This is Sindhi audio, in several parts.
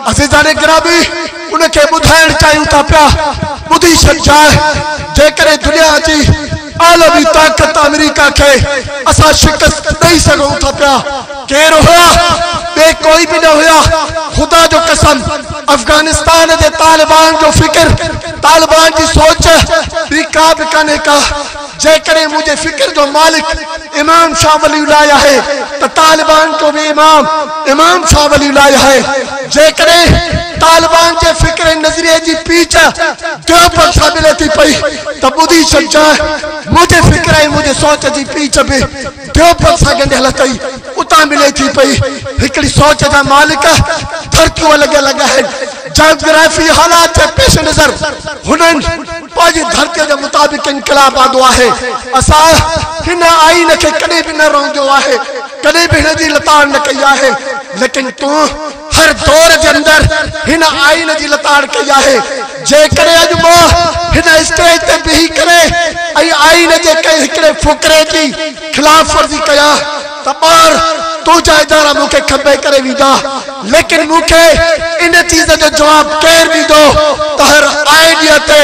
عزيزان گرامي ان کي ٻڌائڻ چاهيون ٿا پيا ٻڌي ڇڏجاء جيڪڏهن دنيا جي عالمي طاقت آمريڪا کي اسان شڪست ڏئي سگهون ٿا پيا ڪير هيا ٻي ڪوئي به نه هيا خدا جو قسم افغانستان جي طالبان جو فڪر طالبان جي سوچ ٻي ڪا به ڪانهي ڪا جيڪڏهن منهنجي فڪر جو مالڪ امام شاهه ولي الله آهي ته طالبان جو به امام امام شاهه ولي الله آهي. جيڪڏهن طالبان جي فڪر ۽ نظريي جي پيچ ديوبند سان ملي ٿي پئي ته ٻڌي ڇڏجانء منهنجي فڪر ۽ منهنجي سوچ جي پيچ به ٻيو پل سان ڳنڍيل اٿئي، اتان ملي ٿي پئي. هڪڙي سوچ جا مالڪ ٿرڪيون لڳيل لڳا آهن. جاگرافي حالات جي پيش نظر هنن پنهنجي ڌرتيء جي مطابق انقلاب آندو آهي. اسان هن آئين کي ڪڏهن به نه رئندو آهي، ڪڏهن به هن جي لتاڙ نه ڪئي آهي. ليڪن تون. هر دور جي اندر هن آئين جي لتاڙ ڪئي آهي، جيڪڏهن اڄ مان هن اسٽيج تي بيهي ڪري ۽ آئين جي ڪنهن هڪڙي فقري جي خلاف ورزي ڪيان ته ٻار تنهنجا ادارا مون کي کنڀي ڪري ويندا، ليڪن مون کي ان چيز جو جواب ڪير ڏيندو ته هر آئيڊيا تي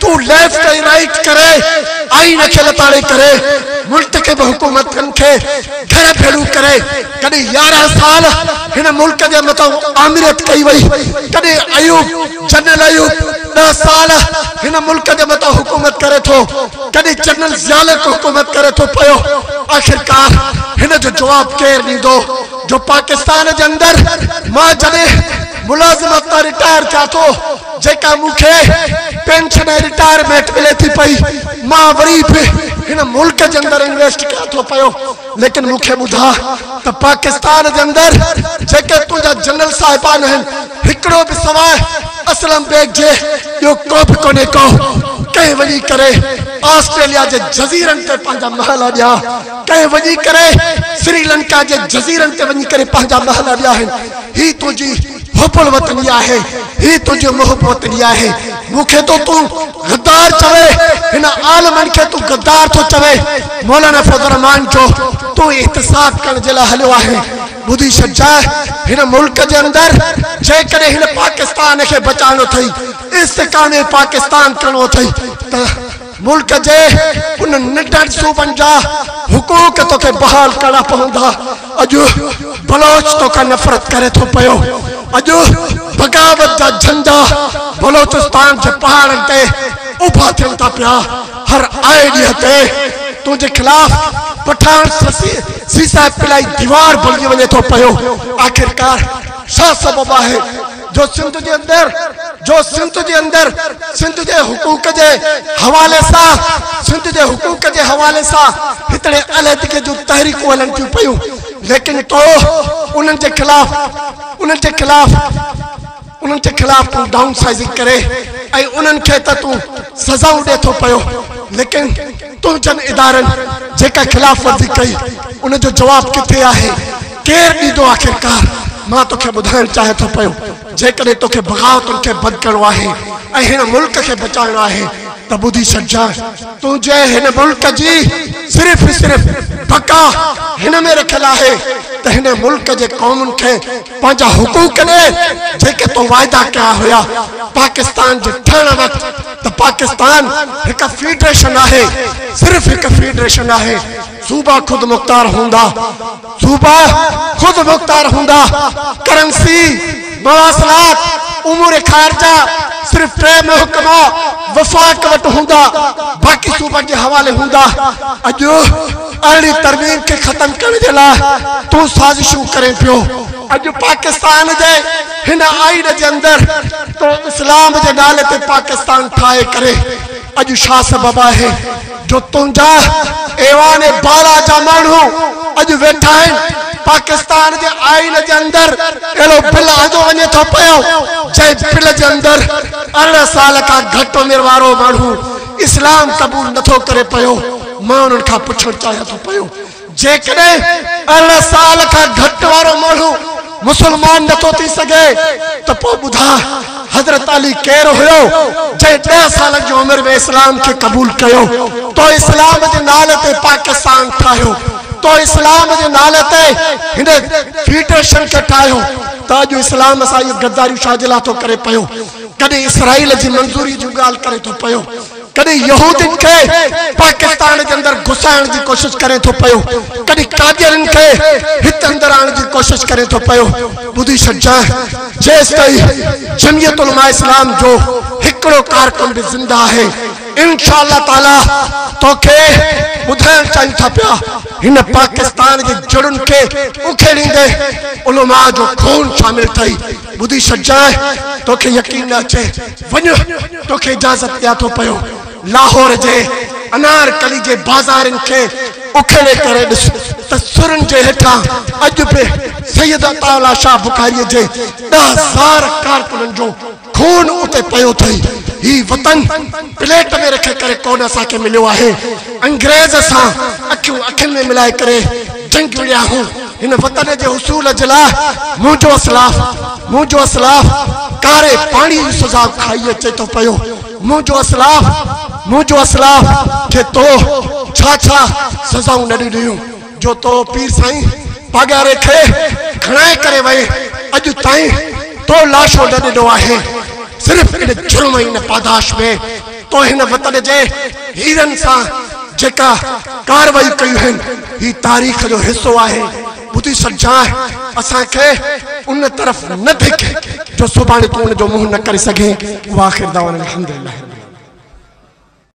تون ليفٽ ۽ رائيٽ ڪري آئين کي لتاڙي ڪري منتخب حڪومتن کي گهر ڀيڙو ڪري. ڪڏهن يارهن سال هن ملڪ جي مٿان آمريت ڪئي وئي، ڪڏهن ايوب، جنرل ايوب، ڏهه سال هن ملڪ جي مٿان حڪومت ڪري ٿو، ڪڏهن جنرل ضياء الحق حڪومت ڪري ٿو پيو، آخرڪار هن جو جواب ڪير ڏيندو جو پاڪستان جي اندر مان جڏهن ملازمت تان رٽائر ٿيان ٿو، جيڪا مون کي پينشن ۽ رٽائرمينٽ ملي ٿي پئي، مان وري به هن ملڪ جي اندر انويسٽ ڪيان ٿو پيو. ليڪن مون کي ٻڌاء ته پاڪستان جي اندر جيڪي تنهنجا جنرل صاحبان آهن هڪڙو به سواء اسلم بيگ جي ٻيو ڪو به ڪونهي ڪو ڪنهن وڃي ڪري آسٽريليا جي جزيرن تي پنهنجا محل اڏيا ڪنهن وڃي ڪري سري لنڪا جي جزيرن تي وڃي ڪري پنهنجا محل اڏيا آهن هي تنهنجي حب الوطني آهي هي تنهنجي محب وطني آهي مون کي ٿو تون غدار چوي هن عالمن کي تون غدار ٿو چوي مولانا فضل الرحمان جو تون احتساب ڪرڻ جي لاء هليو آهين ٻڌي ڇڏجانء هن ملڪ جي اندر جيڪڏهن هن پاڪستان کي بچائڻو اٿئي استحڪام پاڪستان ڪرڻو اٿئي ته ملڪ جي انهن ننڍن صوبن جا حقوق توکي بحال ڪرڻا پوندا. اڄ بلوچ توکان نفرت ڪري ٿو پيو. اڄ بغاوت جا جهنڊا بلوچستان جي پهاڙن تي اڀا ٿين ٿا پيا. هر آئي ڏينهن تي تنهنجي خلاف پٺاڻ سيسائي پلائي ديوار بڻجي وڃي ٿو پيو. آخرڪار ڇا سبب آهي؟ جو سنڌ جي اندر جو سنڌ جي اندر سنڌ جي حقوق جي حوالي سان سنڌ جي حقوق جي حوالي سان هتڙي عليحدگي جون تحريڪون هلن ٿيون پيون ليڪن تو انهن جي خلاف انهن جي خلاف انهن جي خلاف تون ڊائون سائزنگ ڪري ۽ انهن کي ته تون سزائون ڏي ٿو پيو ليڪن تنهنجن ادارن جيڪا خلاف ورزي ڪئي ان جو جواب ڪٿي آهي ڪير ڏيندو آخرڪار مان توکي ٻڌائڻ چاهيان ٿو پيو جيڪڏهن توکي بغاوتن کي بند ڪرڻو آهي ۽ هن ملڪ کي بچائڻو آهي ته ٻڌي ڇڏجانء تنهنجي هن ملڪ جي صرف صرف بقا هن ۾ رکيل آهي ته هن ملڪ جي قومن کي پنهنجا حقوق ڏي جيڪي تو واعدا ڪيا هيا پاڪستان جي ٺهڻ وقت ته پاڪستان هڪ فيڊريشن آهي صرف هڪ فيڊريشن آهي صوبا خودمختار هوندا صوبا خود مختار هوندا، ڪرنسي، مواصلات، امور خارجه صرف ٽي محڪما وفاق وٽ هوندا، باقي صوبن جي حوالي هوندا. اڄ ارڙهين ترميم کي ختم ڪرڻ جي لاء تون سازشون ڪرين پيو. اڄ پاڪستان جي هن آئين جي اندر تو اسلام جي نالي تي پاڪستان ٺاهي ڪري اڄ شاهه سبب آهين. جو تنهنجا ايوان بالا جا ماڻهو اڄ ويٺا آهن، پاڪستان جي آئين جي اندر اهڙو بل آندو وڃي ٿو پيو، جنهن بل جي اندر ارڙهن سال کان گهٽ عمر وارو ماڻهو اسلام قبول نٿو ڪري پيو، مان انهن کان پڇڻ چاهيان ٿو پيو جيڪڏهن ارڙهن سال کان گهٽ وارو ماڻهو مسلمان نه ٿو ٿي سگهي ته پوء ٻڌاء حضرت علي ڪير هيو جنهن ڏهه سالن جي عمر ۾ اسلام کي قبول ڪيو تو اسلام جي نالي تي پاڪستان ٺاهيو تو اسلام جي نالي تي هن فيڊريشن کي ٺاهيو ته اڄ اسلام سان اهيون غداريون ڇا جي لاء ٿو ڪري پيو ڪڏهن اسرائيل جي منظوري جون ڳالهه ڪري ٿو پيو ڪڏهن يهودين کي پاڪستان جي اندر گهسائڻ جي ڪوشش ڪرين ٿو پيو، ڪڏهن قاديانين کي هت اندر آڻڻ جي ڪوشش ڪرين ٿو پيو. ٻڌي ڇڏجانء، جيستائين جميعت علماء اسلام جو هڪڙو ڪارڪن به زنده آهي، انشاء الله تعاليٰ توکي ٻڌائڻ چاهيون ٿا پيا، هن پاڪستان جي جڙن کي اکيڙيندي علماء جو خون شامل اٿئي، ٻڌي ڇڏجانء، توکي يقين نه اچي. ته وڃ توکي اجازت ڏيان ٿو پيو لاهور جي انار ڪلي جي بازارين کي اکيڙي ڪري ڏس ته سرن جي هيٺان اڄ به سيد عطاء الله شاهه بخاري جي ڏهه هزار ڪارڪنن جو خون اتي پيو اٿئي هي وطن پليٽ ۾ رکي ڪري ڪونه اسان کي مليو آهي انگريز سان اکيون اکين ۾ ملائي ڪري جنگ وڙهيائون هن وطن جي حصول جي لاء منهنجو اسلاف، منهنجو اسلاف ڪاري پاڻيء جي سزا کائي اچي ٿو پيو، منهنجو اسلاف، منهنجو اسلاف کي تو ڇا ڇا سزائون نه ڏنيون، جو تو پير سائين پاڳاري کي کڻائي ڪري وئين، اڄ تائين تو لاشو نه ڏنو آهي، صرف ان جرم ۽ ان پاداش ۾. تو هن وطن جي هيرن سان جيڪا ڪارروائيون ڪيون آهن، هي تاريخ جو حصو آهي. ٻڌي سڏجانء، اسان کي ان طرف نه ڌڪ، جو سڀاڻي تون ان جو منهن نه ڪري سگهين. واخر دعوانا الحمدلله رب العالمين.